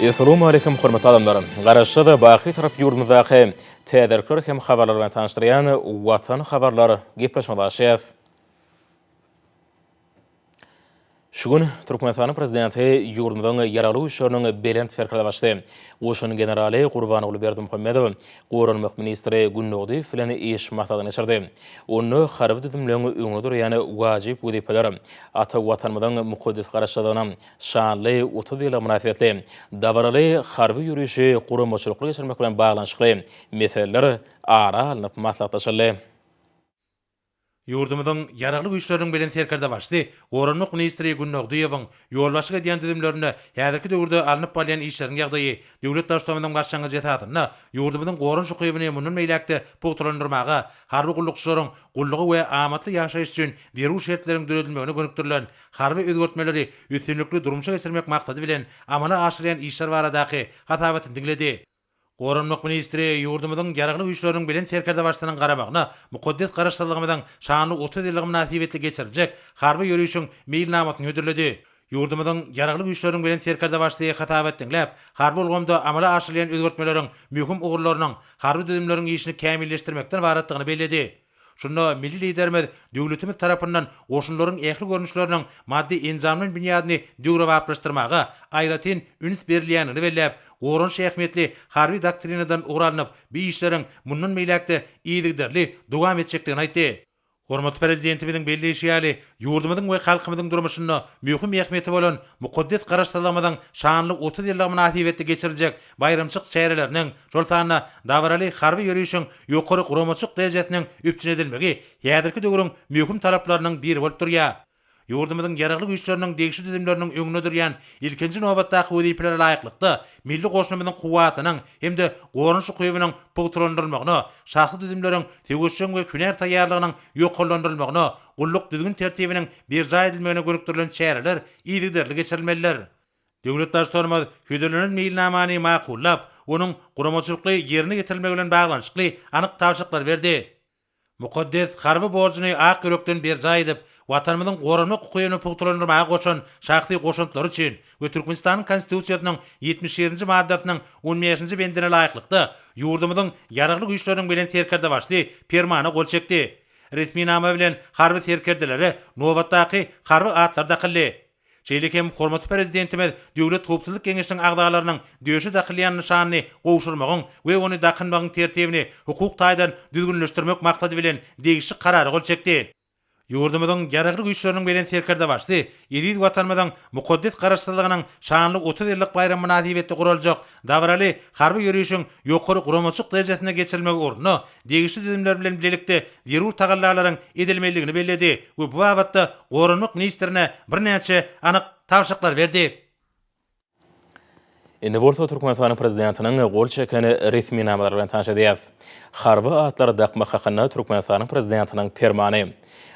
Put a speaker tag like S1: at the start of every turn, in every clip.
S1: Essalamualeýkum hormatly adamlar! Garaşsyz, baky tarap ýurdumyzdaky täzelikler hem habarlar bilen tanyşdyrýan Watan habarlar gepleşmä başlaýas. Şu gün Türkmenistanyň prezidenti ýurdumyzyň Ýaragly Güýçleriniň Belent Serkerdebaşysy, goşun generaly Gurbanguly Berdimuhamedow goranmak ministri Günnugdyýew bilen iş maslahatyny geçirdi. Onda harby düzümleň öňünde durýan wajyp wezipeler, ata Watanymyzyň mukaddes Garaşsyzlygyna, Şanly otuz ýyla mynasybetli dabaraly harby ýörişi guramaçylykly geçirmek bilen baglanyşykly meseleler ara alnyp maslahatlaşyldy.
S2: Ýurdumyzyň Ýaragly Güýçleriniň Bilen Serkerdebaşysy Goranmak ministri Gün Nogdyýewiň ýolbaşçylyk edýän düzümlerinde häzirki döwürde alnyp barylýan işleriň ýagdaýy döwlet Baştutanymyzyň başlangyjy esasynda ýurdumyzyň goranyş ukybyny mundan beýläk-de pugtalandyrmaga, harby gullukçylaryň gullugy we amatly ýaşaýyş üçin zerur şertleriň döredilmegine gönükdirilen Harby özgertmeleri üstünlikli durmuşa geçirmek maksady bilen amala aşyrýan işler baradaky hasabatyny diňledi. Goranmak ministri ýurdumyzyň Ýaragly Güýçleriniň Belent Serkerdebaşysynyň garamagyna mukaddes Garaşsyzlygymyzyň şanly otuz ýyllygy mynasybetli geçiriljek harby ýörişiň meýilnamasyny hödürledi. Ýurdumyzyň Ýaragly Güýçleriniň Belent Serkerdebaşysy hasabat diňläp, harby ulgamda amala aşyrylýan özgertmeleriň möhüm ugurlarynyň harby düzümleriň işini kämilleşdirmekden ybaratdygyny belledi. Şunda milli Liderimiz döwletimiz tarapyndan goşunlaryň ähli görnüşleriniň maddy-enjamlaýyn binýadyny döwrebaplaşdyrmaga aýratyn üns berilýändigini belläp, goranyş ähmiýetli Harby doktrinadan ugur alnyp, bu işleriň mundan beýläk-de yzygiderli dowam etjekdigini aýtdy. Hormatly Prezidentimiziň belleýşi ýaly, ýurdumyzyň we halkymyzyň durmuşynda möhüm ähmiýeti bolan mukaddes Garaşsyzlygymyzyň şanly otuz ýyllygy mynasybetli geçiriljek baýramçylyk çäreleriniň, şol sanda dabaraly harby ýörişiň ýokary guramaçylyk derejesiniň üpjün edilmegi häzirki döwrüň möhüm talaplarynyň biri bolup durýar. Ýurdumyzyň Ýaragly Güýçleriniň degişli düzümleriniň öňünde durýan ilkinji nobatdaky wezipelere laýyklykda, milli goşunymyzyň kuwwatynyň hem-de goranyş ukybynyň pugtalandyrylmagyna, şahsy düzümleriň söweşjeň we hünär taýýarlygynyň ýokarlandyrylmagyna, gulluk düzgün-tertibiniň berjaý edilmegine gönükdirilen çäreler yzygiderli geçirilmelidir. Döwlet Baştutanymyz hödürlenen meýilnamany makullap, onuň guramaçylykly ýerine ýetirilmegi bilen baglanyşykly anyk tabşyryklary berdi. Mukaddes harby borjuny ak ýürekden berjaý edip, Watanymyzyň goranmak ukybyny pugtalandyrmaga goşan şahsy goşantlary üçin we Türkmenistanyň Konstitusiýasynyň ýetmiş ýedinji maddasynyň on bäşinji bendine laýyklykda ýurdumyzyň Ýaragly Güýçleriniň Belent Serkerdebaşysy Permana gol çekdi. Resminama bilen harby serkerdelere nobatdaky harby atlar dakyldy. Şeýle hem hormatly Prezidentimiz Döwlet howpsuzlyk geňeşiniň agzalarynyň döşe dakylýan nyşanyny gowşurmagyň we ony dakynmagyň tertibini hukuk taýdan düzgünleşdirmek maksady bilen degişli Karara gol çekdi. Ýurdumyzyň Ýaragly Güýçleriniň Belent Serkerdebaşysy eziz Watanymyzyň mukaddes Garaşsyzlygynyň şanly otuz ýyllyk baýramy mynasybetli guraljak dabaraly harby ýörişiň ýokary guramaçylyk derejesinde geçirilmegi ugrunda degişli düzümler bilen bilelikde zerur tagallalaryň edilmelidigini belledi we bu babatda Goranmak ministrine birnäçe anyk tabşyryklary berdi.
S1: Indi bolsa Türkmenistanyň Prezidentiniň gol çeken resminamalary bilen tanyş edýäris. Harby atlary dakmak hakynda Türkmenistanyň Prezidentiniň Permany.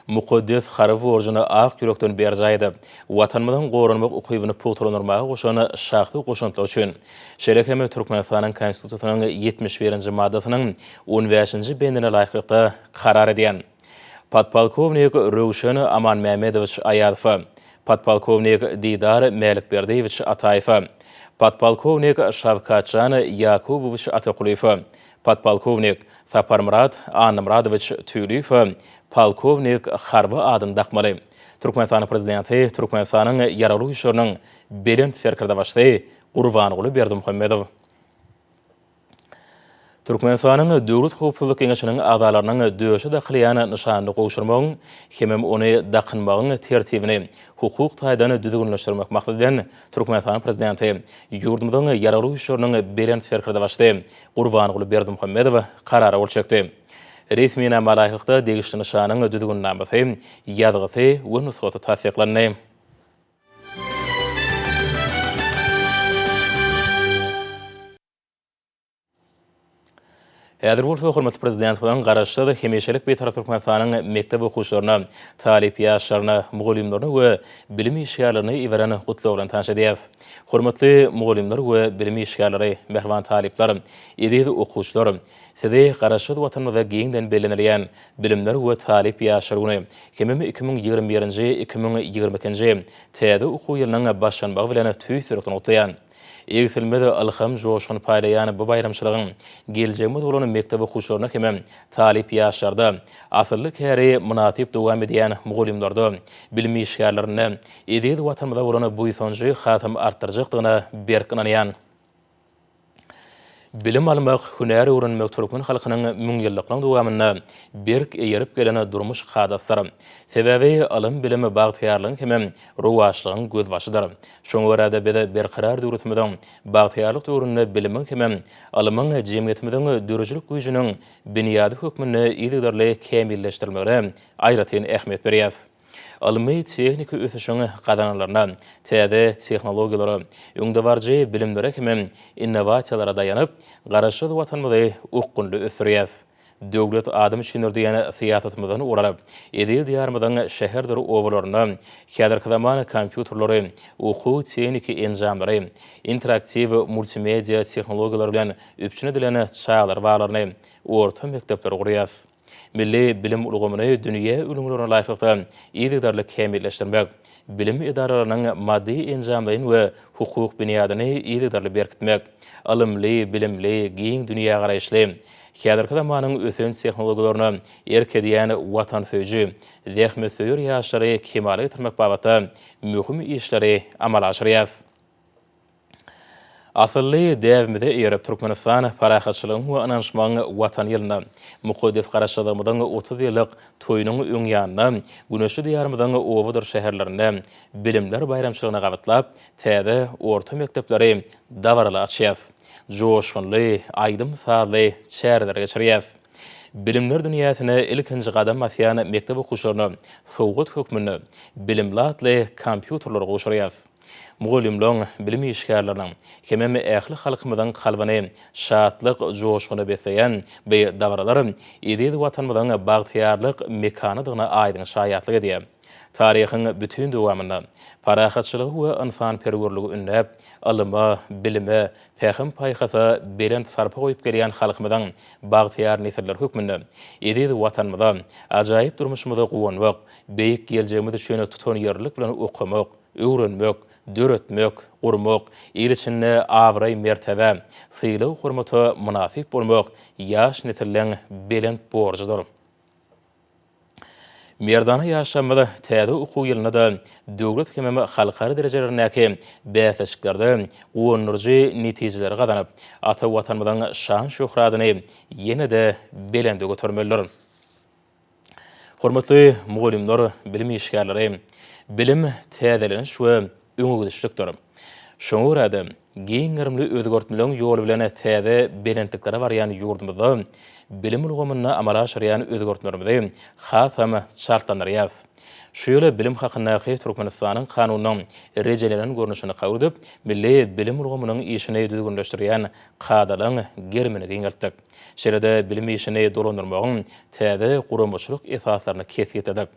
S1: mukaddes harby borjuny ak ýürekden berjaý edip, Watanymyzyň goranmak ukybyny pugtalandyrmaga goşan şahsy goşantlary üçin, şeýle hem Türkmenistanyň Konstitusiýasynyň ýetmiş birinji maddasynyň on bäşinji bendine laýyklykda karar edýän podpolkownik Röwşen Amanmämmedowiç Aýazowa, podpolkownik Didar Mälikberdiýewiç Ataýewa, podpolkownik Şawkatjan Ýakubowiç Atakulyýewa, Podpolkownik Saparmyrat Annamyradowiç Tüýliýewe polkownik harby adyny dakmaly. Türkmenistanyň Prezidenti Türkmenistanyň Ýaragly Güýçleriniň Belent Serkerdebaşysy Gurbanguly Berdimuhamedow Türkmenistanyň Döwlet howpsuzlyk geňeşiniň agzalarynyň döşe dakylýan nyşanyny gowşurmagyň hemem ony dakynmagyň tertibini hukuk taýdan düzgünleşdirmek maksady bilen Türkmenistanyň Prezidenti ýurdumyzyň Ýaragly Güýçleriniň Belent Serkerdebaşysy Gurbanguly Berdimuhamedow karara gol çekdi. Resminama laýyklykda, degişli nyşanyň düzgünnamasy, ýazgysy we nusgasy tassyklandy. Häzir bolsa hormatly Prezidentimiziň Garaşsyz, hemişelik Bitarap Türkmenistanyň mekdep okuwçylaryna, talyp ýaşlaryna, mugallymlaryna we bilim işgärlerine iberen Gutlagy bilen tanyş edýäris. Hormatly mugallymlar we bilim işgärleri, mähriban talyplar, eziz okuwçylar! Sizi Garaşsyz Watanymyzda giňden bellenilýän Bilimler we talyp ýaşlar güni hemem iki müň ýigrimi birinji, iki müň ýigrimi ikinji täze okuw ýylynyň başlanmagy bilen tüýs ýürekden gutlaýan. Egsilmez ylham-joşgun paýlaýan bu baýramçylygyň geljegimiz bolan mekdep okuwçylaryna hemem talyp ýaşlarda, asylly käri mynasyp dowam edýän mugallymlarda, bilim işgärlerinde, eziz Watanymyza bolan buýsanjy hasam artdyrjakdygyna berk ynanýan. Bilim almak, hünär öwrenmek türkmen halkynyň müňýyllyklaryň dowamynda berk eýerip gelen durmuş kadasydyr. Sebäbi ylym-bilim bagtyýarlygyň hem rowaçlygyň gözbaşydyr. Şoňa görä-de, biz Berkarar döwletimiziň bagtyýarlyk döwründe bilimiň hem ylmyň jemgyýetimiziň döredijilik güýjüniň binýady hökmünde yzygiderli kämilleşdirilmegine aýratyn ähmiýet berýäs. ylmy-tehniki ösüşiň gazananlaryna, täze tehnologiýalara, öňdebaryjy bilimlere hemem innowasiýalara daýanyp, Garaşsyz Watanymyzy okgunly ösdürýäs. Döwlet adam üçindir diýen syýasatymyzdan ugur alyp, eziz Diýarymyzyň şäherdir obalarynda häzirki zaman kompýuterleri, okuw-tehniki enjamlary, interaktiw multimedia tehnologiýalary bilen üpjün edilen çagalar baglaryny, orta mekdepleri gurýas. Milli bilim ulgamyny dünýä ülňülerine laýyklykda yzygiderli kämilleşdirmek, bilim edaralarynyň maddy-enjamlaýyn we hukuk binýadyny yzygiderli berkitmek, ylymly, bilimli, giň dünýägaraýyşly, häzirki zamanyň ösen tehnologiýalaryna erk edýän watansöýüji, zähmetsöýer ýaşlary kemala getirmek babatda möhüm işleri amala aşyrýarys. Asylly däbimize eýerip, Türkmenistan Parahatçylygyň we ynanyşmagyň Watany ýylynda, mukaddes Garaşsyzlygymyzyň otuz ýyllyk toýunyň öň ýanynda, güneşli Diýarymyzyň obadyr şäherlerinde Bilimler baýramçylygyny gabatlap, täze orta mekdepleri dabaraly açýas, joşgunly aýdym-sazly çäreleri geçirýäs. Bilimler dünýäsine ilkinji gadam basýan mekdep okuwçylaryna sowgat hökmünde Bilimli atly kompýuterleri gowşurýas. mugallymlaryň, bilim işgärleriniň hemem ähli halkymyzyň kalbyny şatlyk joşguny besleýän bu dabaralar eziz Watanymyzyň bagtyýarlyk mekanydygyna aýdyň şaýatlyk edýär. Taryhyň bütin dowamynda parahatçylygy we ynsanperwerligi ündäp, ylyma, bilime, pähim-paýhasa belent sarpa goýup gelýän halkymyzyň bagtyýar nesilleri hökmünde eziz Watanymyza, ajaýyp durmuşymyza guwanmak, beýik geljegimiz üçin tutanýerlilik bilen okamak, öwrenmek, döretmek, gurmak, il içinde abraý-mertebä, sylag-hormata mynasyp bolmak ýaş nesilleriň belent borjudyr. Merdana ýaşlarymyz täze okuw ýylynda-da döwlet hemem halkara derejelerindäki bäsleşiklerde guwandyryjy netijeleri gazanyp, ata Watanymyzyň şan-şöhratyny ýene-de belende götermelidir. Hormatly mugallymlar, bilim işgärleri! Bilim, täzeleniş we öňegidişlikdir. Şoňa görä-de, giň gerimli özgertmeleriň ýoly bilen täze belentliklere barýan ýurdumyzda bilim ulgamynda amala aşyrýan özgertmelerimizi hasam çaltlandyrýarys. Şu ýyl Bilim hakyndaky Türkmenistanyň Kanunynyň rejelenen görnüşini kabul edip, milli bilim ulgamynyň işini düzgünleşdirýän kadalaryň gerimini giňeltdik. Şeýle-de bilim işini dolandyrmagyň täze guramaçylyk esaslaryny kesgitledik.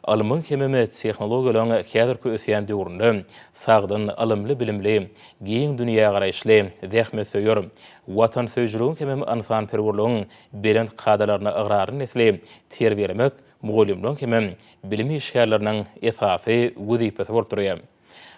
S1: Ylmyň hemem tehnologiýalaryň häzirki ösýän döwründe sagdyn, ylymly-bilimli, giň dünýägaraýyşly, zähmetsöýer, watansöýüjiligiň hemem ynsanperwerligiň belent kadalaryna ygrarly nesli terbiýelemek mugallymlaryň hemem bilim işgärleriniň esasy wezipesi bolup durýar.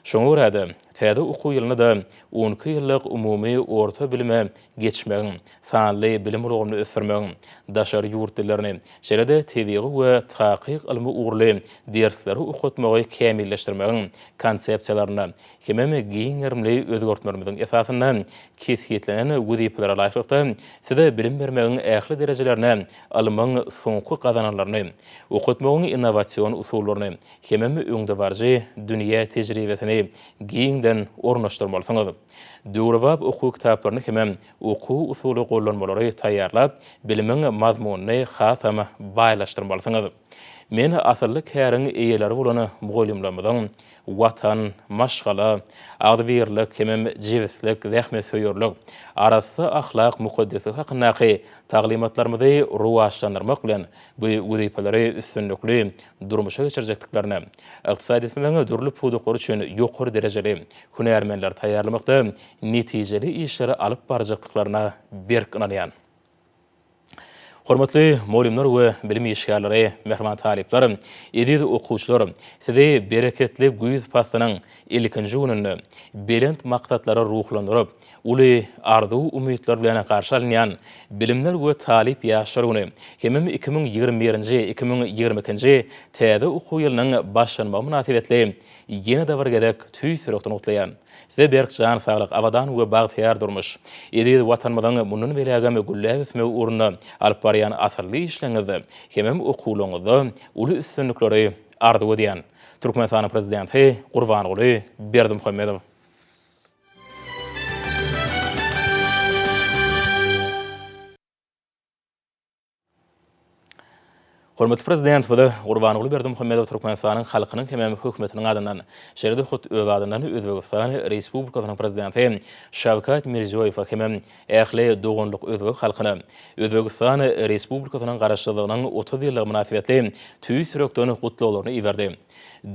S1: Şoňa görä-de, täze okuw ýylynda-da on iki ýyllyk umumy orta bilime geçmegiň, sanly bilim ulgamyny ösdürmegiň, daşary ýurt dillerini, şeýle-de tebigy we takyk ylmy ugurly dersleri okatmagy kämilleşdirmegiň konsepsiýalaryna hemem giň gerimli özgertmelerimiziň esasynda kesgitlenen wezipelere laýyklykda size bilim bermegiň ähli derejelerine ylmyň soňky gazananlaryny, okatmagyň innowasion usullaryny, Hemem öňdebaryjy dünýä tejribesini giňden ornaşdyrmalysyňyz. Döwrebap okuw kitaplaryny hemem okuw-usuly gollanmalary taýýarlap, bilimiň mazmunyny hasam baýlaşdyrmalysyňyz. Men asylly käriň eýeleri bolan mugallymlarymyzyň Watan, maşgala, agzybirlik hemem jebislik, zähmetsöýerlik, arassa ahlak mukaddesligi hakyndaky taglymatlarymyzy rowaçlandyrmak bilen, bu wezipeleri üstünlikli, durmuşa geçirjekdiklerine, ykdysadyýetimiziň dürli pudaklary üçin ýokary derejeli hünärmenleri taýýarlamakda netijeli işleri alyp barjakdyklaryna berk ynanýan. Hormatly mugallymlar we bilim işgärleri, mähriban talyplar, eziz okuwçylar, sizi bereketli güýz paslynyň ilkinji gününde belent maksatlara ruhlandyryp, Uly arzuw-umytlar bilen garşy alynýan Bilimler we talyp ýaşlar güni hemem iki müň ýigrimi birinji, iki müň ýigrimi ikinji täze okuw ýylynyň başlanmagy mynasybetli ýene-de bir gezek tüýs ýürekden gutlaýan! Size berk jan saglyk, abadan we bagtyýar durmuş, eziz Watanymyzyň mundan beýlägem gülläp ösmegi ugrunda alyp barýan asylly işleriňizde hemem okuwlaryňyzda uly üstünlikleri arzuw edýän! Türkmenistanyň Prezidenti Gurbanguly Berdimuhamedow. Hormatly Prezidentimize Gurbanguly Berdimuhamedow Türkmenistanyň halkynyň hemem hökümetiniň adyndan, şeýle-de hut öz adyndan Özbegistan Respublikasynyň Prezidenti Şawkat Mirziýoýewe hemem ähli doganlyk özbek halkyna Özbegistan Respublikasynyň Garaşsyzlygynyň otuz ýyllygy mynasybetli tüýs ýürekden gutlaglaryny iberdi.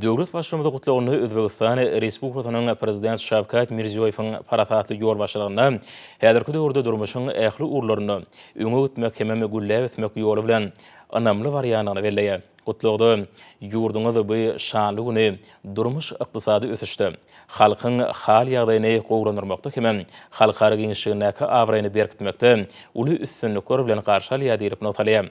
S1: Döwlet Baştutanyň Gutlagynda Özbegistan Respublikasynyň Prezidenti Şawkat Mirziýoýewiň parasatly ýolbaşçylygynda häzirki döwürde durmuşyň ähli ugurlarynda öňe gitmek hemem gülläp ösmek ýoly bilen ynamly barýandygyny belleýär. Gutlagda ýurduňyz bu şanly güni durmuş-ykdysady ösüşde, halkyň hal-ýagdaýyny gowulandyrmakda hemem halkara giňişligindäki abraýyny berkitmekde uly üstünlikler bilen garşy alýar diýlip nygtalýar.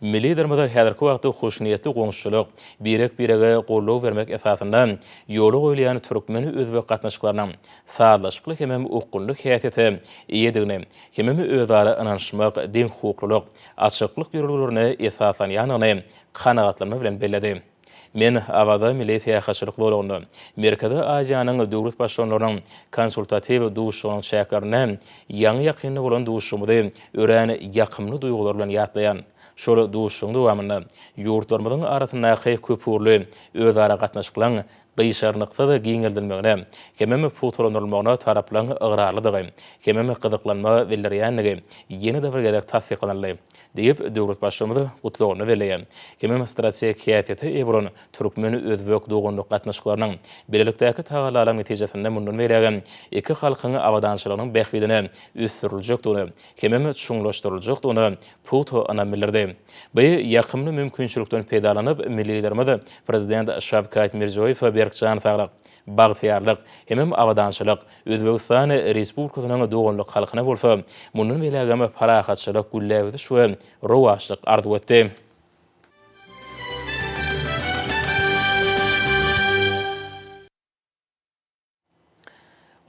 S1: Milli Liderimize häzirki wagtda hoşniýetli goňşuçylyk, birek-birege goldaw bermek esasynda ýola goýulýan türkmen-özbek gatnaşyklarynyň sazlaşykly hemem okgunly häsiýete eýedigini hemem özara ynanyşmak, deňhukuklylyk, açyklyk ýörelgelerine esaslanýandygyny kanagatlanma bilen belledi. Men Awaza milli syýahatçylyk zolagynda Merkezi Aziýanyň döwlet baştutanlarynyň konsultatiw duşuşygynyň çäklerinde ýaňy-ýakynda bolan duşuşygymyzy örän ýakymly duýgular bilen ýatlaýan. Şol duşuşygyň dowamynda ýurtlarymyzyň arasyndaky köpugurly özara gatnaşyklaň gyşarnyksyz giňeldilmegine hemem pugtalandyrylmagyna taraplaryň ygrarlydygy hemem gyzyklanma bildirýändigi ýene-de bir gezek tassyklanyldy diýip, döwlet Baştutanyz Gutlagynda belleýär hemem strategik häsiýete eýe bolan türkmen-özbek doganlyk gatnaşyklarynyň bilelikdäki tagallalaryň netijesinde mundan beýlägem iki halkyň abadançylygynyň bähbidine ösdüriljekdigine hemem çuňlaşdyryljakdygyna puto ynam bildirdi. Bu ýakymly mümkinçilikden peýdalanyp, milli Liderimiz Prezident Şawkat Mirziýoýewe berk jan saglyk, bagtyýarlyk hemem abadançylyk, Özbegistan Respublikasynyň doganlyk halkyna bolsa mundan beýlägem parahatçylyk, gülläp ösüş we rowaçlyk arzuw etdi.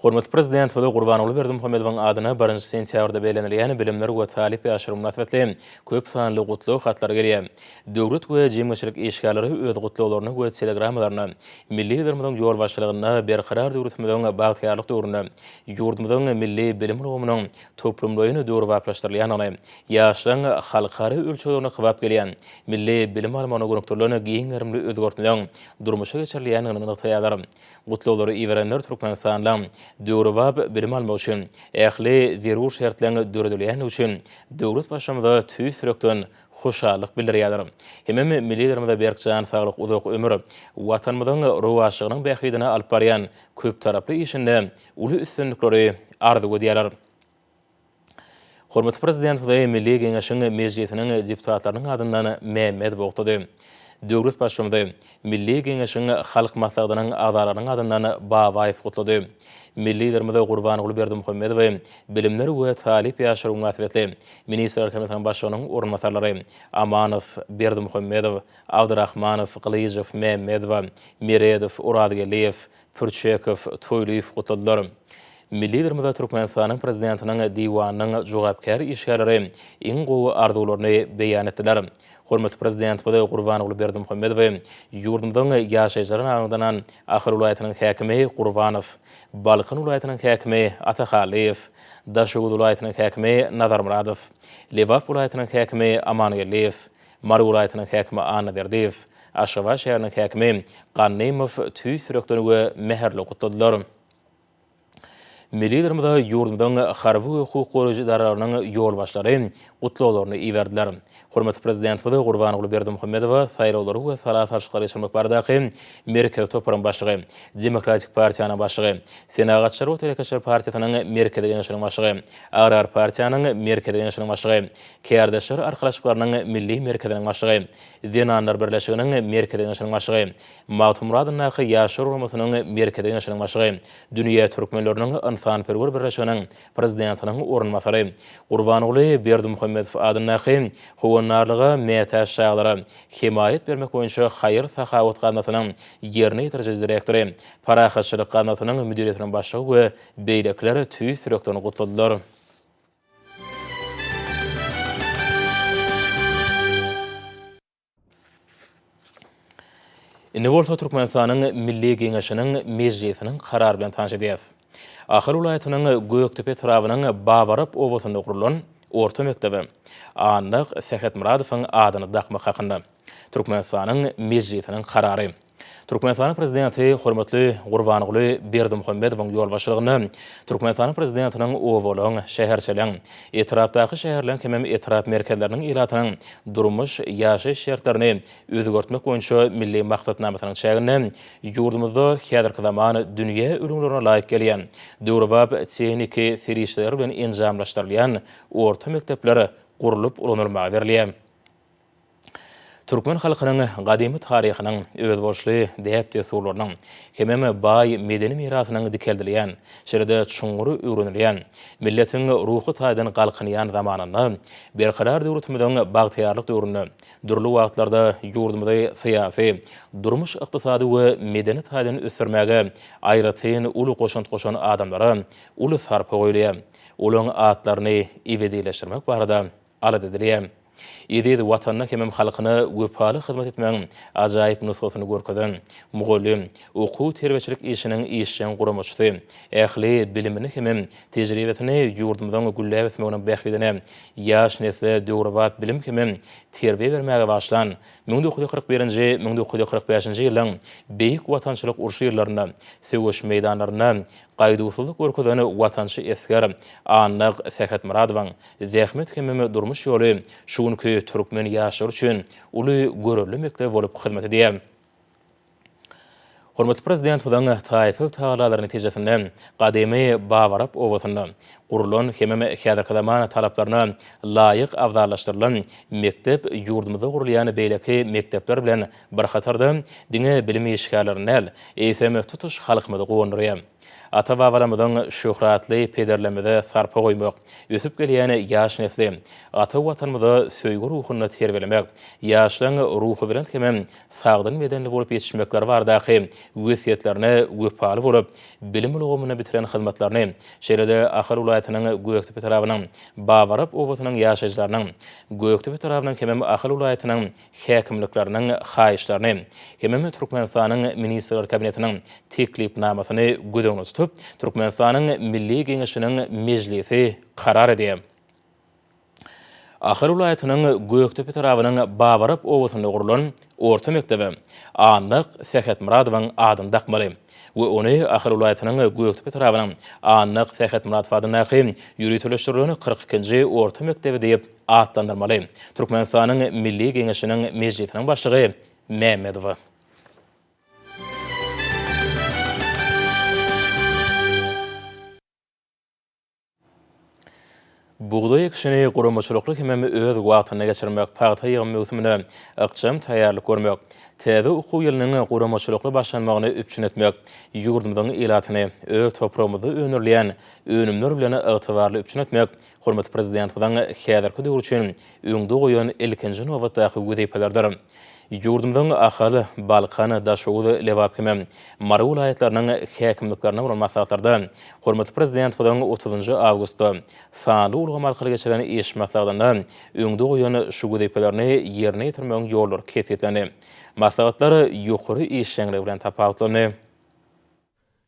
S1: Hormatly Prezidentimize Gurbanguly Berdimuhamedowyň adyna birinji sentýabrda bellenilýän Bilimler we talyp ýaşlar mynasybetli köp sanly gutlag hatlary gelýär. Döwlet we jemgyýetçilik işgärleri öz gutlaglaryny we telegrammalaryny milli Liderimiziň ýolbaşçylygynda Berkarar döwletimiziň bagtyýarlyk döwründe ýurdumyzyň milli bilim ulgamynyň toplumlaýyn döwrebaplaşdyrylýandygyny, ýaşlaryň halkara ölçeglerine kybap gelýän milli bilim almagyna gönükdirilen giň gerimli özgertmeleň durmuşa geçirilýändigini nygtaýarlar. Gutlaglary iberenler Türkmenistanda döwrebap bilim almak üçin ähli zerur şertleň döredilýändigi üçin döwlet Baştutanyza tüýs ýürekden hoşallyk bildirýärler. Hemem Milli Liderimize berk jan saglyk, uzak ömür, Watanymyzyň rowaçlygynyň bähbidine alyp barýan köptaraply işinde uly üstünlikleri arzuw edýärler. Hormatly Prezidentimizi Milli Geňeşiň Mejlisiniň deputatlarynyň adyndan Mehmet gutady. Döwlet Baştutanymy Milli Geňeşiň Halk Maslahatynyň agzalarynyň adyndan Babaýew gutlady. Milli Liderimiz Gurbanguly Berdimuhamedowy Bilimler we talyp ýaşlar mynasybetli Ministrler Kabinetiniň Başlygynyň orunbasarlary Amanow, Berdimuhamedow, Abdyrahmanow, Gylyjow, Mehmedowa, Meredow, Orazgeldiýew, Pürçekow, Toýlyýew gutladylar. Milli Liderimize Türkmenistanyň Prezidentiniň Diwanynyň jogapkär işgärleri iň gowy arzuwlaryny beýan etdiler. Hormatly Prezidentimiz Gurbanguly Berdimuhamedowy ýurdumyzyň ýaşaýjylaryna aňyrdanan Ahal welaýatynyň häkimi Gurbanow, Balkan welaýatynyň häkimi Atahallyýew, Daşoguz welaýatynyň häkimi Nazarmyradow, Lebap welaýatynyň häkimi Amangeldiýew, Mary welaýatynyň häkimi Annaberdiýew, Aşgabat şäheriniň häkimi Gannymow tüýs ýürekden we mähirli gutladylar. Milli Liderimize ýurdumyzyň harby we hukuk goraýjy edaralarynyň ýolbaşçylary gutlaglaryny iberdiler. Hormatly Prezidentimiz Gurbanguly Berdimuhamedowa saýlawlary we sala salşyklary geçirmek baradaky Merkezi toparyň başlygy, Demokratik partiýanyň başlygy, Senagatçylar we telekeçiler partiýasynyň Merkezi Geňeşiniň başlygy, Agrar partiýanyň Merkezi Geňeşiniň başlygy, Kärdeşler arkalaşyklarynyň Milli merkeziniň başlygy, Zenanlar birleşiginiň Merkezi Geňeşiniň başlygy, Magtymguly adyndaky Ýaşlar guramasynyň Merkezi Geňeşiniň başlygy, Dünýä türkmenleriniň ynsanperwer birleşiginiň prezidentiniň orunbasary, Gurbanguly Berdimuhamedow adyndaky Howandarlyga mätäç çagalara hemaýat bermek boýunça haýyr-sahawat gaznasynyň ýerine ýetiriji direktory, Parahatçylyk gaznasynyň müdiriýetiniň başlygy we beýlekiler tüýs ýürekden gutladylar. Indi bolsa Türkmenistanyň Milli Geňeşiniň Mejlisiniň karary bilen tanyş edýäris. Ahal welaýatynyň Gökdepe etrabynyň Babarap obasynda gurlan orta mekdebe Annak Sähetmyradowyň adyny dakmak hakynda Türkmenistanyň Mejlisiniň karary. Türkmenistanyň Prezidenti hormatly Gurbanguly Berdimuhamedowyň ýolbaşçylygynda Türkmenistanyň Prezidentiniň obalaryň, şäherçeligiň, etrapdaky şäherleriň hemem etrap merkezleriniň ilatynyň durmuş, ýaşaýyş şertlerini özgertmek boýunça milli maksatnamasynyň çäginde ýurdumyzda häzirki zaman dünýä ülňülerine laýyk gelýän döwrebap tehniki serişdeler bilen enjamlaşdyrylýan orta mekdepler gurlup ulanylmaga berilýär. Türkmen halkynyň gadymy taryhynyň, özboluşly däp-dessurlarynyň hemem baý medeni mirasynyň dikeldilýän, şeýle-de çuňňur öwrenilýän, milletiň ruhy taýdan galkynýan zamanynda, Berkarar döwletimiziň bagtyýarlyk döwründe dürli wagtlarda ýurdumyzy syýasy, durmuş-ykdysady we medeni taýdan ösdürmäge aýratyn uly goşant goşan adamlara uly sarpa goýulýar. Olaryň atlaryny ebedileşdirmek barada alada edilýär. Eziz Watanyna hemem halkyna wepaly hyzmat etmegiň ajaýyp nusgasyny görkezen, mugallym, okuw-terbiýeçilik işiniň işjeň guramaçysy, ähli bilimini hemem tejribesini ýurdumyzyň gülläp ösmeginiň bähbidine, ýaş nesle döwrebap bilim hemem terbiýe bermäge bagyşlan, müň dokuz ýüz kyrk birinji, müň dokuz ýüz kyrk bäşinji ýyllaryň Beýik Watançylyk urşy ýyllarynda söweş meýdanlarynda Gaýduwsyzlyk görkezen watançy esger Annak Sähetmyradowyň zähmet hemem durmuş ýoly şu günki türkmen ýaşlary üçin uly görelde mekdep bolup hyzmat edýär. Hormatly Prezidentimiziň taýsyz tagallalary netijesinde gadymy Babarap obasynda gurlan hemem häzirki zaman talaplaryna laýyk abzallaşdyrylan mekdep ýurdumyzda gurulýan beýleki mekdepler bilen bir hatarda, diňe bilim işgärlerini däl, eýsem, tutuş halkymyzy guwandyrýar. Ata-babalarymyzyň şöhratly pederlerimize sarpa goýmak, ösüp gelýän ýaş nesli ata Watanymyza söýgi ruhunda terbiýelemek, ýaşlaryň ruhubelent hem-ä sagdyn bedenli bolup ýetişmekleri baradaky wesýetlerine wepaly bolup, bilim ulgamynda bitiren hyzmatlaryny, şeýle-de Ahal welaýatynyň Gökdepe etrabynyň Babarap obasynyň ýaşaýjylarynyň, Gökdepe etrabynyň hem-ä Ahal welaýatynyň häkimlikleriniň haýyşlaryny hemem Türkmenistanyň Ministrler Kabinetiniň teklipnamasyny göz öňünde tutup, Türkmenistanyň Milli Geňeşiniň Mejlisi karar edýär. Ahal welaýatynyň Gökdepe etrabynyň Babarap obasynda gurlan orta mekdebe Annak Sähetmyradowyň adyny dakmaly we ony Ahal welaýatynyň Gökdepe etrabynyň Annak Sähetmyradow adyndaky ýöriteleşdirilen kyrk ikinji orta mekdebi diýip atlandyrmaly. Türkmenistanyň Milli Geňeşiniň Mejlisiniň Başlygy Mämmedowa. Bugdaý ekişini guramaçylykly hemem öz wagtynda geçirmek, pagta ýygym möwsümine ykjam taýýarlyk görmek, täze okuw ýylynyň guramaçylykly başlanmagyny üpjün etmek, ýurdumyzyň ilatyny öz topragymyzda öndürilýän önümler bilen ygtybarly üpjün etmek hormatly Prezidentimiziň häzirki döwür üçin öňde goýan ilkinji nobatdaky wezipelerdir. Ýurdumyzyň Ahal, Balkan, Daşoguz, Lebap hem-de Mary welaýatlarynyň häkimliklerinde bolan maslahatlarda hormatly Prezidentimiziň otuzynjy awgustda sanly ulgam arkaly geçiren iş maslahatynda öňde goýan şu wezipelerini ýerine ýetirmegiň ýollary kesgitlendi. Maslahatlar ýokary işjeňligi bilen tapawutlandy.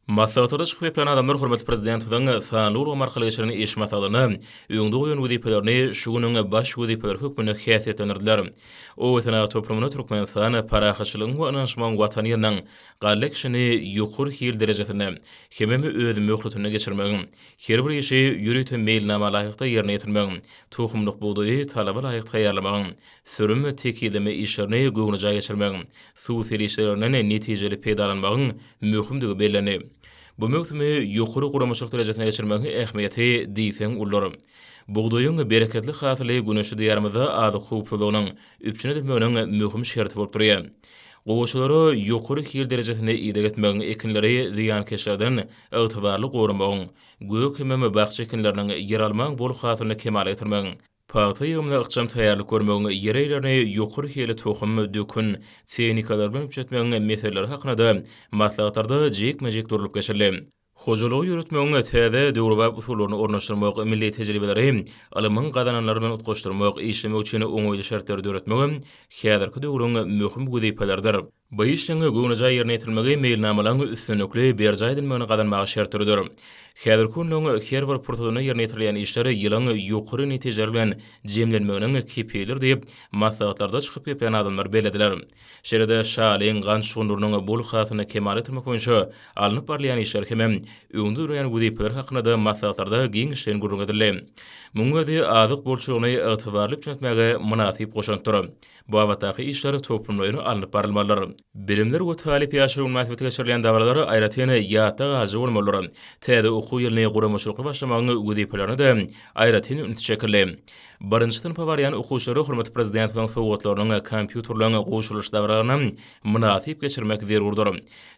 S1: Maslahatlarda çykyp geplen adamlar hormatly Prezidentimiziň sanly ulgam arkaly geçiren iş maslahatynda öňde goýan wezipelerini şu günüň baş wezipeleri hökmünde häsiýetlendirdiler. Obasenagat toplumyna Türkmenistan parahatçylygyň we ynanyşmagyň watany ýylyndan galla ekişini ýokary hil derejesinde hemem öz möhletinde geçirmegiň, her bir işi ýörite meýilnama laýykda ýerine ýetirmegiň, tohumlyk bugdaýy talaba laýyk taýýarlamagyň, sürüm, tekizleme işlerini göwnejaý geçirmegiň, suw serişdelerinden netijeli peýdalanmagyň möhümdigi bellendi. Bu möwsümi ýokary guramaçylyk derejesinde geçirmegiň ähmiýeti diýseň uludyr. Bugdaýyň bereketli hasyly güneşli Diýarymyzda azyk howpsuzlygynyň üpjün edilmeginiň möhüm şerti bolup durýar. Gowaçalara ýokary hil derejesinde ideg etmegiň, ekinleri zyýankeşlerden ygtybarly goramagyň, gök hemem bakja ekinleriniň, ýeralmaň bol hasylyny kemala getirmegiň, Pagta ýygymyna ykjam taýýarlyk görmegiň ýerejelerini, ýokary hilli tohum, dökün, tehnikalary bilen üpjetmegiň meseleleri hakynada maslahatlarda jikme-jik durlup geçildi. Hojalygy ýöretmegiň täze, döwrebap usullaryny ornaşdyrmak, milli tejribeleri ylmyň gazananlary bilen utgaşdyrmak, işlemek üçin oňaýly şertleri döretmegem häzirki döwrüň möhüm wezipeleridir. Bu işleň göwnejaý ýerine ýetirilmegi meýilnamalaryň üstünlikli berjaý edilmegini gazanmaga şert döreder. Häzirki günüň her bir pursatynda ýerine ýetirilýän işler ýylyň ýokary netijeler bilen jemlenmeginiň kepilidir diýip, maslahatlarda çykyp gepleýän adamlar bellediler. Şeýle-de şalyň gant şugundyrynyň bol hasylyny kemala getirmek boýunça alnyp barylýan işler hem-ä öňde durýan wezipeler hakynda-da maslahatlarda giňişleýin gürrüň edildi. Munuň özi azyk bolçulygyny ygtybarly üpjün etmäge mynasyp goşantdyr. babatdaky işler toplumlaýyn alnyp barylmalydyr. Bilimler we talyp ýaşlary mynasybetli geçirilýän dabaralar aýratyn ýatda galyjy bolmalydyr. Täze okuw ýylyny guramaçylykly başlamagyň wezipelerine-de aýratyn üns çekildi. Birinji synpa barýan okuwçylara hormatly Prezidentimiziň sowgatlarynyň kompýuterleň goşulyş dabaralaryny mynasyp geçirmek zerurdyr.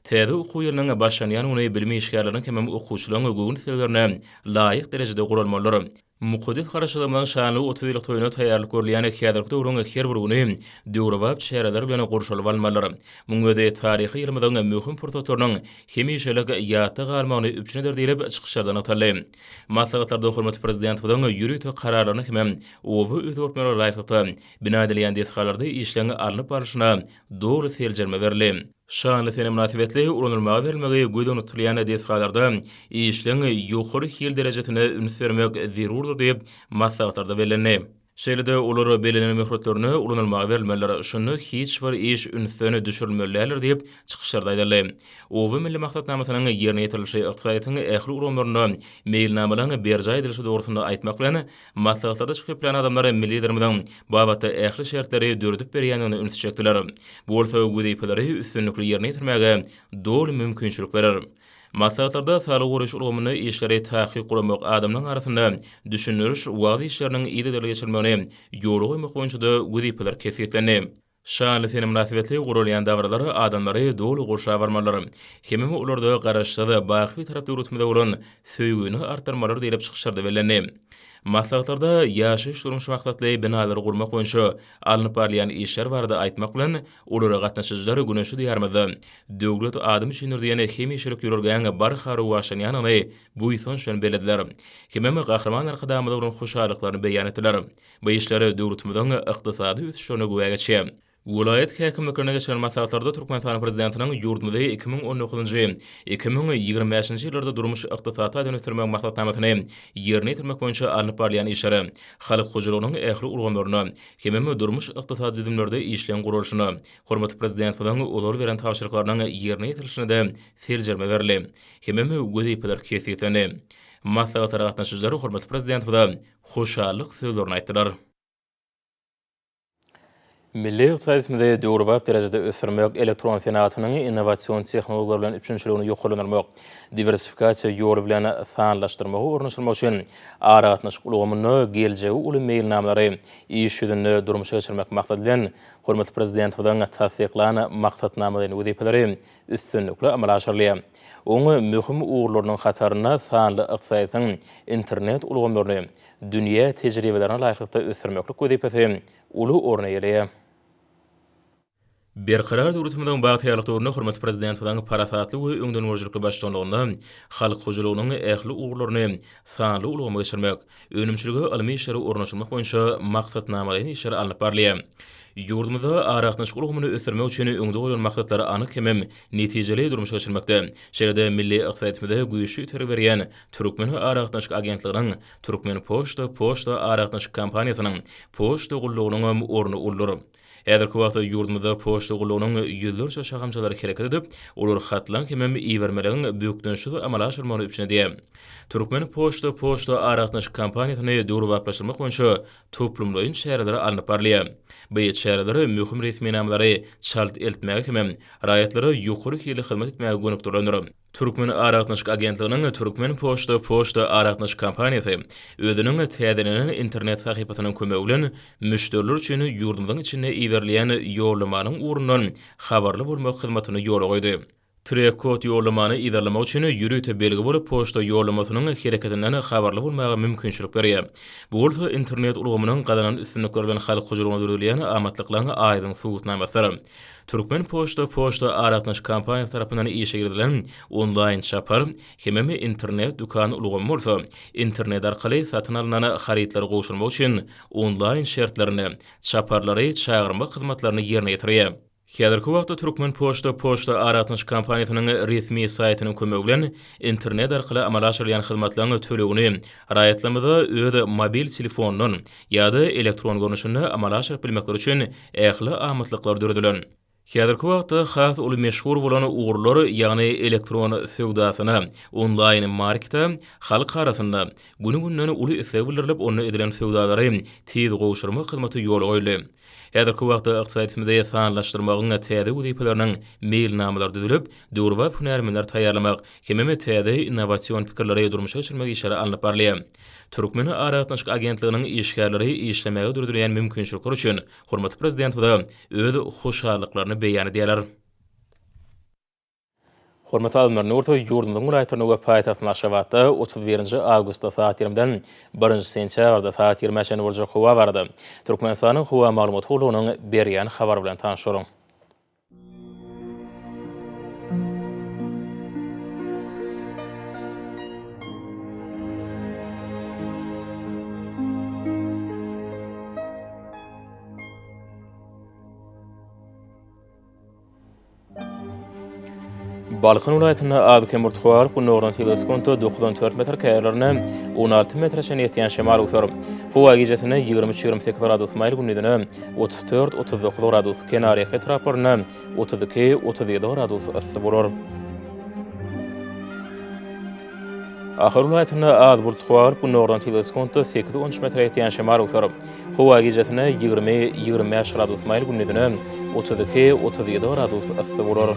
S1: Täze okuw ýylynyň başlanýan güni bilim işgärleriniň hemem okuwçylaryň göwün isleglerine laýyk derejede guralmalydyr. Mukaddes Garaşsyzlygymyzyň şanly otuz ýyllyk toýuna taýýarlyk görülýän häzirki döwrüň her bir güni döwrebap çäreler bilen gurşalyp alynmalydyr. Muň özi taryhy ýylymyzyň möhüm pursatlarynyň hemişelik ýatda galmagyny üpjün eder diýlip, çykyşlarda nygtaldy. Maslahatlarda hormatly Prezidentimiziň ýörite kararlaryna hem-de oba özgertmelere laýyklykda bina edilýän desgalarda işleň alnyp barlyşyna doly seljerme berildi. Şanly sene mynasybetli ulanylmaga berilmegi göz öňünde tutulýan desgalarda işleň ýokary hil derejesine üns bermek zerurdyr diýip, maslahatlarda bellendi. Şeýle-de, olar bellenen möhletlerine ulanylmaga berilmelidir, şunda hiç bir iş ünsden düşürilmeli däldir diýip, çykyşlarda aýdyldy. Oba milli maksatnamasynyň ýerine ýetirilişi ykdysadyýetiň ähli ulgamlarynda meýilnamalaryň berjaý edilişi dogrusynda aýtmak bilen, Maslahatlarda çykyp bilen adamlar milli Liderimiziň bu babatda ähli şertleri döredip berýändigine ünsi çekdiler. Bu bolsa wezipeleri üstünlikli ýerine ýetirmäge doly mümkinçilik berer. Maslahatlarda saglygy goraýyş ulgamynda işleri takyk guramak, adamlaryň arasynda düşündiriş, wagyz işleriniň yzygiderli geçirilmegini ýola goýmak boýunça-da wezipeler kesgitlendi. Şanly sene mynasybetli guralýan dabaralar adamlary doly gurşap almalydyr. Hemem olarda Garaşsyz, baky Bitarap döwletimize bolan söýgini artdyrmalydyr diýlip çykyşlarda bellendi. Maslahatlarda ýaşaýyş-durmuş maksatly binalary gurmak boýunça alnyp barylýan işler barada aýtmak bilen, olara gatnaşyjylar Güne şu Diýarymyzda Döwlet adam üçindir diýen hemişelik ýörelgäň barha rowaçlanýandygyny buýsanç bilen bellediler hemem Gahryman Arkadagymyza bolan hoşallyklaryny beýan etdiler. Bu işler döwletimiziň ykdysady ösüşlerine güwä geçýär. Welaýat häkimliklerine geçiren maslahatlarda Türkmenistan Prezidentiniň ýurdumyzy iki müň on dokuzynjy, iki müň ýigrimi bäşinji ýyllarda durmuş-ykdysady taýdan ösdürmegiň maksatnamasyny ýerine ýetirmek boýunça alnyp barylýan işleri, halk hojalygynyň ähli ulgamlarynda hemem durmuş-ykdysady düzümlerde işleň guralyşyna, hormatly Prezidentimiziň ozal beren tabşyryklarynyň ýerine ýetirilişine-de seljerme berildi hemem wezipeler kesgitlendi. Maslahatlara gatnaşyjylar hormatly Prezidentimize hoşallyk sözlerini aýtdylar. Milli ykdysadyýetimizi döwrebap derejede ösdürmek, elektron senagatynyň innowasion tehnologiýalar bilen üpjünçiligini ýokarlandyrmak, diwersifikasiýa ýoly bilen sanlaşdyrmagy ornaşdyrmak üçin aragatnaşyk ulgamynda geljegi uly meýilnamalary iş ýüzünde durmuşa geçirmek maksady bilen, hormatly Prezidentimiziň tassyklan Maksatnamalaýyn wezipeleri üstünlikli amala aşyrylýar. Oň möhüm ugurlarynyň hatarynda sanly ykdysadyýetiň internet ulgamlaryny dünýä tejribelerine laýyklykda ösdürmeklik wezipesi uly orun eýeleýär. Berkarar döwletimiziň bagtyýarlyk döwründe hormatly Prezidentimiziň parasatly we öňdengörüjilikli baştutanlygynda halk hojalygynyň ähli ugurlaryny sanly ulgama geçirmek, Önümçilige ylmy işleri ornaşdyrmak boýunça maksatnamalaýyn işler alnyp barylýar. Ýurdumyzda aragatnaşyk ulgamyny ösdürmek üçin öňde goýlan maksatlary anyk hemem netijeli durmuşa geçirmekde, şeýle-de milli ykdysadyýetimize güýçli itergi berýän Türkmen aragatnaşyk agentliginiň, Türkmenpoçta poçta aragatnaşyk kompaniýasynyň poçta gullugynyňam orny uludyr. Häzirki wagtda ýurdumyzda poçta gullugynyň ýüzlerçe şahamçalary hereket edip, olar hatlaň hemem ibermeligiň bökdençsiz amala aşyrmagyny üpjün edýär. Türkmen poçta poçta aragatnaşyk kompaniýasyny döwrebaplaşdyrmak boýunça toplumlaýyn çäreler alnyp barylýar. By çäreler möhüm resminamalary çalt eltmäge hemem raýatlara ýokary hilli hyzmat etmäge gönükdirilendir. Türkmen aragatnaşyk agentliginiň Türkmen poçta poçta aragatnaşyk kompaniýasy özüniň täzelenen internet sahypasynyň kömegi bilen müşderiler üçin ýurdumyzyň içinde iberilýän ýollamanyň ugrundan habarly bolmak hyzmatyny ýola goýdy. Trek-kod ýollamany yzarlamak üçin ýörite belgi bolup, poçta ýollamasynyň hereketinden habarly bolmaga mümkinçilik berýär. Bu bolsa internet ulgamynyň gazanan üstünlikleri bilen halk hojalygyna döredilýän amatlyklaryň aýdyň subutnamasydyr. Türkmen poçta poçta aragatnaşyk kompaniýasy tarapyndan işe girizilen onlaýn çapar hemem internet dükan ulgamy bolsa, internet arkaly satyn alnan harytlary gowşurmak üçin onlaýn şertlerini, çaparlary çagyrmak hyzmatlaryny ýerine ýetirýär. Häzirki wagtda Türkmen poçta poçta aragatnaşyk kompaniýasynyň resmi saýtynyň kömegi bilen internet arkaly amala aşyrylýan hyzmatlaryň tölegini raýatlarymyza öz mobil telefonyndan ýa-da elektron görnüşinde amala aşyryp bilmekleri üçin ähli amatlyklar döredilen. Häzirki wagtda has uly meşhur bolan ugurlar, ýagny elektron söwdasyna, onlaýn markete halk arasynda güni-günden uly isleg bildirilip, onda edilen söwdalary tiz gowşurmak hyzmaty ýola goýuldy. Häzirki wagtda ykdysadyýetimizde sanlaşdyrmagyň täze wezipeleriniň meýilnamalary düzülip, döwrebap hünärmenleri taýýarlamak hemem täze innowasion pikirleri durmuşa geçirmek işleri alnyp barylýar. Türkmen aragatnaşyk agentliginiň işgärleri işlemäge döredilýän mümkinçilikler üçin hormatly Prezidentimize öz hoşallyklaryny beýan edýärler. Hormatly Azmyr Nurtow ýurdumyzyň welaýatlarynda we paýtagtymyz Aşgabatda otuz birinji awgustda sagat ýigriminden birinji sentýabrda sagat ýigrimä çenli boljak howa barada Türkmenistanyň Howa maglumat gullugynyň berýän habary bilen tanyşalyň. Balkan welaýatynda az-kem urtug galyp, gündogardan sekiz sekuntda dokuzdan dört metr, käýerlerinde on alty metre çenli ýetýän şemal öwser. Howa gijesine ýigrimi üç-ýigrimi sekiz gradus maýyl, gündizine otuz dört, otuz dokuz gradus, kenarýaka etraplarynda otuz iki, otuz ýedi gradus yssy bolar. Ahal welaýatynda az bult gugaryp, günordan tizligi sekuntda sekiz, on üç metre ýetýän şemal öwser. Howa gijesine ýigrimi, ýigrimi bäş gradus maýyl, gündizine otuz iki, otuz ýedi gradus yssy bolar.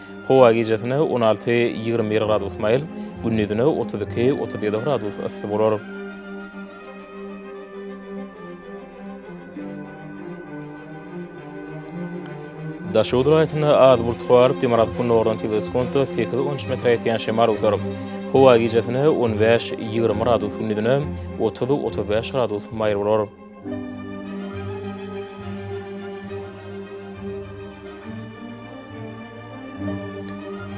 S1: Howa gijesine on alty, ýigrimi bir gradus maýyl, gündizine otuz iki, otuz ýedi gradus yssy bolar. Daşoguz welaýatynda az bulutly bolup, demirgazyk-gündogardan tizligi sekuntda sekiz, on üç metre ýetýän şemal öwser. Howa gijesine on bäş, ýigrimi gradus, gündizine otuz, otuz bäş gradus maýyl bolar.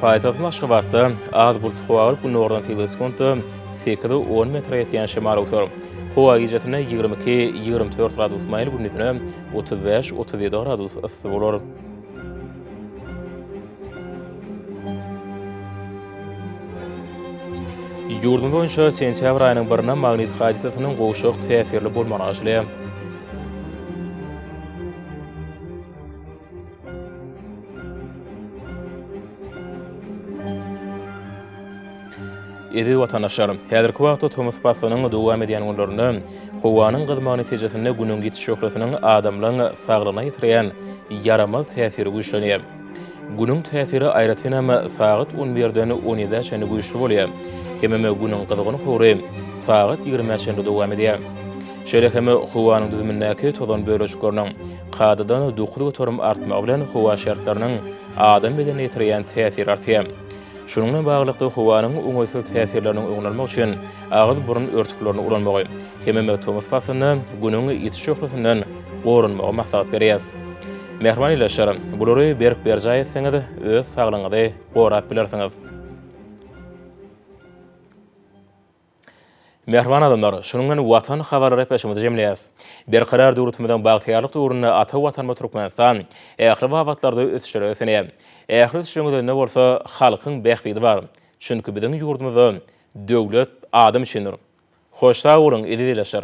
S1: Paýtagtymyz Aşgabatda az bulutly howa bolup, günordan tygly sekuntda sekiz-on metre ýetýän şemal öwser. Howa gijesine ýigrimi iki-ýigrimi dört gradus maýyl, gündizine otuz bäş-otuz ýedi gradus yssy bolar. Ýurdumyz boýunça sentýabr aýynyň birine magnit hadysasynyň gowşak täsirli bolmagy arzylýar. Eziz watandaşlar! Häzirki wagtda tomus paslynyň dowam edýän günlerinde howanyň gyzmagy netijesinde Günüň ýiti şöhlesiniň adamlaryň saglygyna ýetirýän ýaramaz täsiri güýçlenýär. Günüň täsiri aýratynam sagat on birden on ýedä çenli güýçli bolýar. Hemem Günüň gyzgyn howry sagat ýigrimä çenli dowam edýär. Şeýle hem howanyň düzümindäki tozan bölejikleriniň kadadan dokuz göterim artmagy bilen howa şertleriniň adam bedenine ýetirýän täsiri artýar. Şunuň bilen baglylykda, howanyň oňaýsyz täsirleriniň öňüni almak üçin agyz-burun örtüklerini ulanmagy hem-de tomus paslynda Günüň ýiti şöhlesinden goranmagy maslahat berýäs. Mähriban ildeşler, bulary berk berjaý etseňiz, öz saglygyňyzy gorap bilersiňiz. Mähriban adamlar, şunuň bilen Watan habarly repleşigimizi jemleýäs. Berkarar döwletimiziň bagtyýarlyk döwründe ata Watanymyz Türkmenistan ähli babatlarda ösüşlere ösenýär. Ähli ösüşiň özünde bolsa halkyň bähbidi bar. Çünki biziň ýurdumyzda döwlet adam üçindir. Hoş sag boluň eziz ildeşler!